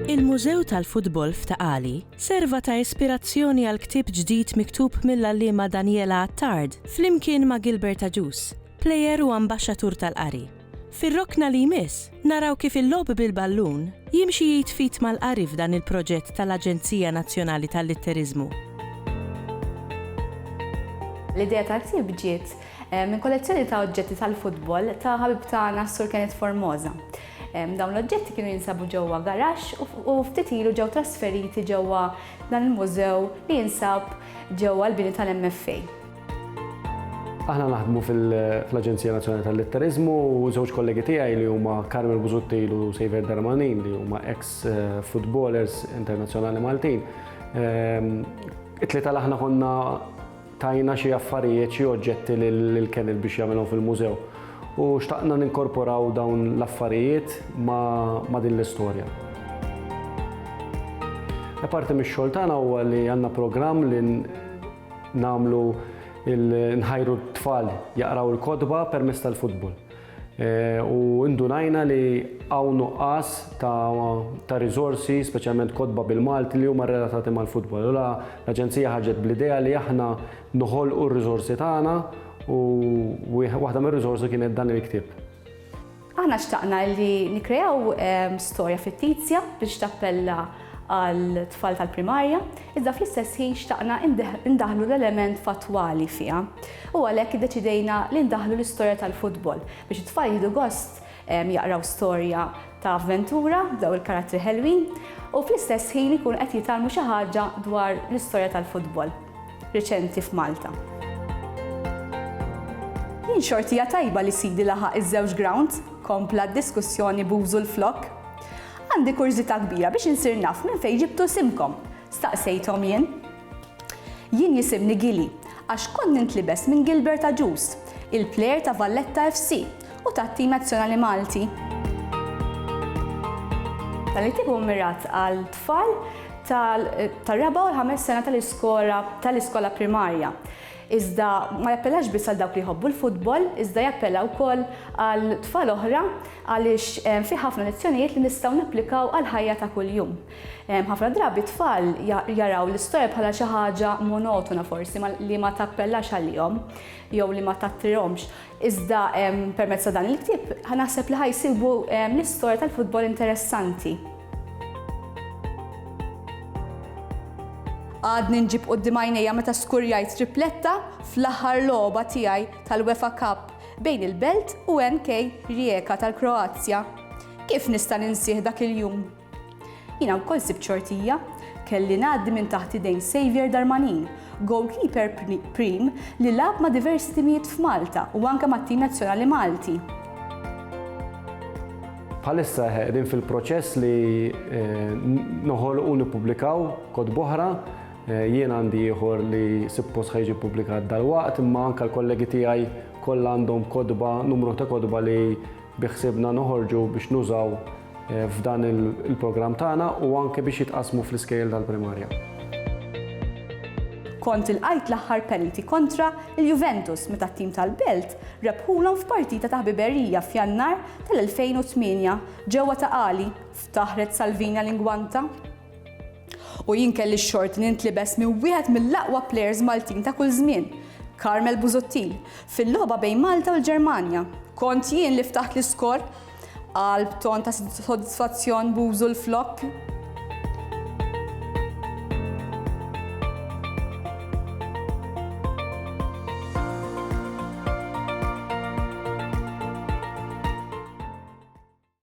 Il-Mużew tal-Futbol f'Ta' Qali serva ta' ispirazzjoni għal ktieb ġdid miktub mill-għalliema Daniela Attard flimkien ma' Gilbert Agius, plejer u ambaxxatur tal-qari. Fir-rokna li jmiss, naraw kif il-logħob bil-ballun jimxi id f'id mal-qari f'dan il-proġett tal-Aġenzija Nazzjonali tal-Litteriżmu. L-idea tal-ktieb ġiet minn kollezzjoni ta' oġġetti tal-futbol ta' ħabib tagħna s-Sur Kenneth Formosa. Dawn l-oġġetti kienu jinsabu ġewwa garaxx u ftit ilu ġew trasferiti ġewwa dan il-mużew li jinsab ġewwa l-bini tal-MFA. Aħna naħdmu fl-Aġenzija Nazzjonali tal-Litteriżmu u żewġ kollegi tiegħi li huma Carmel Busuttil u Sejver Darmanin li huma ex eh, footballers internazzjonali Maltin. Ehm, it-tlieta l aħna konna tajna xi affarijiet xi oġġetti lil Kenil biex jagħmilhom fil-mużew. U xtaqna ninkorporaw dawn l-affarijiet ma' din l-istorja. Apparti mix-xogħol tagħna huwa li għandna programm li Nagħmlu nħajru t-tfal jaqraw il-kotba permezz tal-futbol. E, u indunajna li hawn nuqqas ta' riżorsi, speċjalment kotba bil-Malti li huma relatati mal-futbol. Ula l-Aġenzija ħarġet bl-idea li aħna noħolqu r-riżorsi tagħna u waħda mir-riżorsi kienet dan il-ktieb. Aħna xtaqna li nikkreaw storja fittizja biex tappella għal tfal tal-primarja, iżda fl-istess ħin xtaqna indaħħlu l-element fattwali fiha u għalhekk iddeċidejna li ndaħħlu l-istorja tal-futbol biex it-tfal jieħdu gost jaqraw storja ta' avventura b'daw il-karattri ħelwin u fl-istess ħin ikunu qed jitgħallmu xi ħaġa dwar l-istorja tal-futbol. reċenti f'Malta. Jien xorti hija tajba li sidi laħaq iż-żewġ grounds, kompla d-diskussjoni b'użu l-flokk. Għandi kurżità kbira biex insir naf minn fejn ġibtu simkom, staqsejthom jien. Jien jisimni Gili għax kont nintlibes minn Gilbert Agius, il-plejer ta' Valletta FC, u tat-tim nazzjonali Malti. Dan it-tim hu mmirat għal tfal tar-raba' u l-ħames sena tal-iskola primarja. Iżda ma jappellax biss għal dawk li jħobbu l-futbol, iżda jappella wkoll għal tfal oħra għaliex fih ħafna lezzjonijiet li nistgħu napplikaw għall-ħajja ta' kuljum. Ħafna drabi tfal jaraw l-istorja bħala xi ħaġa monotona forsi li ma tappellax għalihom jew li ma tattirhomx. Iżda permezz ta' dan il-ktieb ħa naħseb li ħa jsibu l-istorja tal-futbol interessanti. Għadni nġib quddiem għajnejja meta skurjajt tripletta fl-aħħar logħba tiegħi tal-UEFA Cup bejn il-Belt u NK Rijeka tal-Kroazja. Kif nista' ninsih dak il-jum? Jiena wkoll sibt xortija, kelli ngħaddi minn taħt idejn Saviour Darmanin, goalkeeper prim li lagħab ma' diversi timijiet f'Malta u anke mat-tim nazzjonali Malti. Bħalissa qegħdin fil-proċess li noħolqu u nippubblikaw kotb oħra. Jien għandi ieħor li suppost ħa jiġi ppubblikat dalwaqt, imma anke l-kollegi tiegħi kollha għandhom kotba, numru ta' kotba li Biħsiebna noħorġu biex nużaw f'dan il-programm tagħna u anke biex jitqassmu fl-iskejjel tal-primarja. Kont ilqajt l-aħħar penalty kontra l-Juventus meta t-tim tal-Belt rebħulhom f'partita ta' ħbiberija f'Jannar tal-2008 ġewwa ta' Qali, ftaħret Salvina Lingwanta. U jien kelli x-xorti li nitlibes minn wieħed mill-aqwa plejers Maltin ta' kull żmien, Carmel Busuttil, fil-logħba bejn Malta u l-Ġermanja. Kont jien li ftaħt l-iskor? qal b'ton ta' sodisfazzjon Bużu l-Flokk.